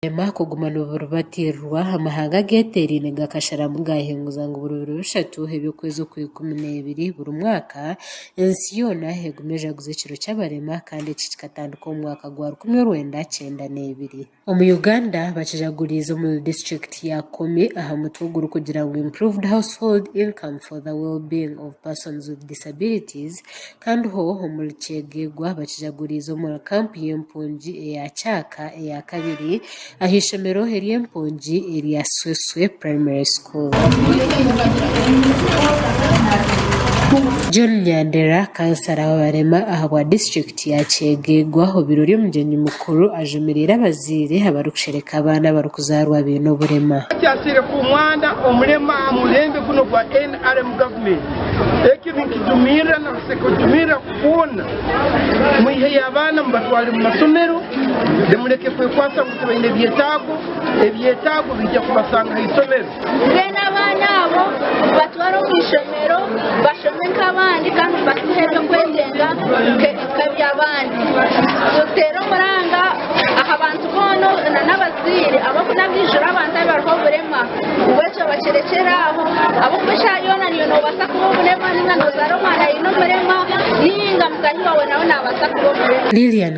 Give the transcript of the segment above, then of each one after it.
Nibareema kuguma niburibateererwa, amahanga ageteeraine gakasharamu gaahinguza ngu buri biro bishatu eby'okwezi okwa ikumi n'ebiri buri mwaka, ensi yoona egume ejaguze ekiro ky'abareema kandi eki kikatandika omu mwaka gwa rukumi orwenda kyenda n'ebiri. Omu Uganda bakijaguriize omuri disiturikiti ya Komi aha mutwe ogurikugira ngu Improved Household Income for the Wellbeing of Persons with Disabilities, Kandi ho omuri kyegegwa bakijaguriize omuri kampu y'empungi eya Kyaka eya kabiri aha ishomero ery'empungi erya Sweswe Primary School. John Nyandera, kansara w'abarema ahabwa district ya Kyegegwa obirori omugyenyi mukuru. Kuru ajumirire abazaire abarikushereka abaana abarikuzaarwa baine oburema. Kyateire ku mwana omurema aha murembe gunu gwa nrm gavumenti. Eki ninkijumirira na kusekujumirira kwona. Mwiheyo abaana mubatware mu masomero mureke kwekwatsa ngu tibaine byetaago, ebyetaago biija kubasanga aha isomero. Mbwenu abaana abo batware omu ishomero bashome nk'abandi kandi basihe eby'okwetenga nk'eby'abandi. Tuteere omuranga aha bantu boona n'abazaire ahabw'okunaga ahaijuru abantu abariho oburema. Ngu ekyo bakirekyere aho ahabw'okuba eshaaha yoona niiwe noobaasa kuba omurema nainga noozaara omwana aine oburema nainga mutaahi waawe nawe naabaasa kuba omurema. Lilian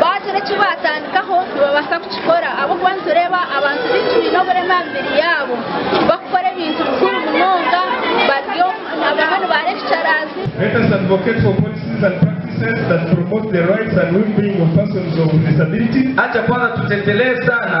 Baagira eki baatandikaho, nibabaasa kukikora ahabw'okuba nitureeba abantu baingi baine oburema aha mibiri yaabo barikukora ebintu bikuru munonga. Bariyo abamwe nibaara ebicaraazi. Let us advocate for policies and practices that promote the rights and well-being of persons of disability. Haja kwanga tutetelee sana.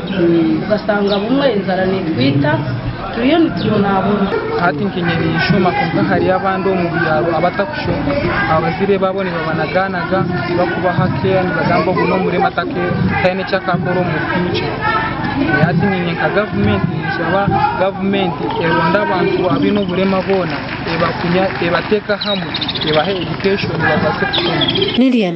Ugasanga bumwe enjara netwita turiyo nitubonaabona. Hati nkanye ninshoma kwonka hariyo abandi omu byaro abatakushoma abazaire baabo nibabanagaanaga tibakubaha care nibagamba ogu n'omurema taine eki akakora omu future. Hati nyine nka gavumenti ninshaba gavumenti eronde abantu abaine oburema boona ebateeka hamwe ebahe education babaase kushoma. Lilian,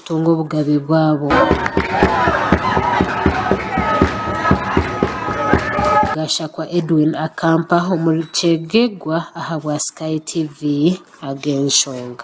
kutunga obugabe bwabo. Gashakwa Edwin Akampa omuri Kyegegwa ahabwa Sky TV ag'enshonga.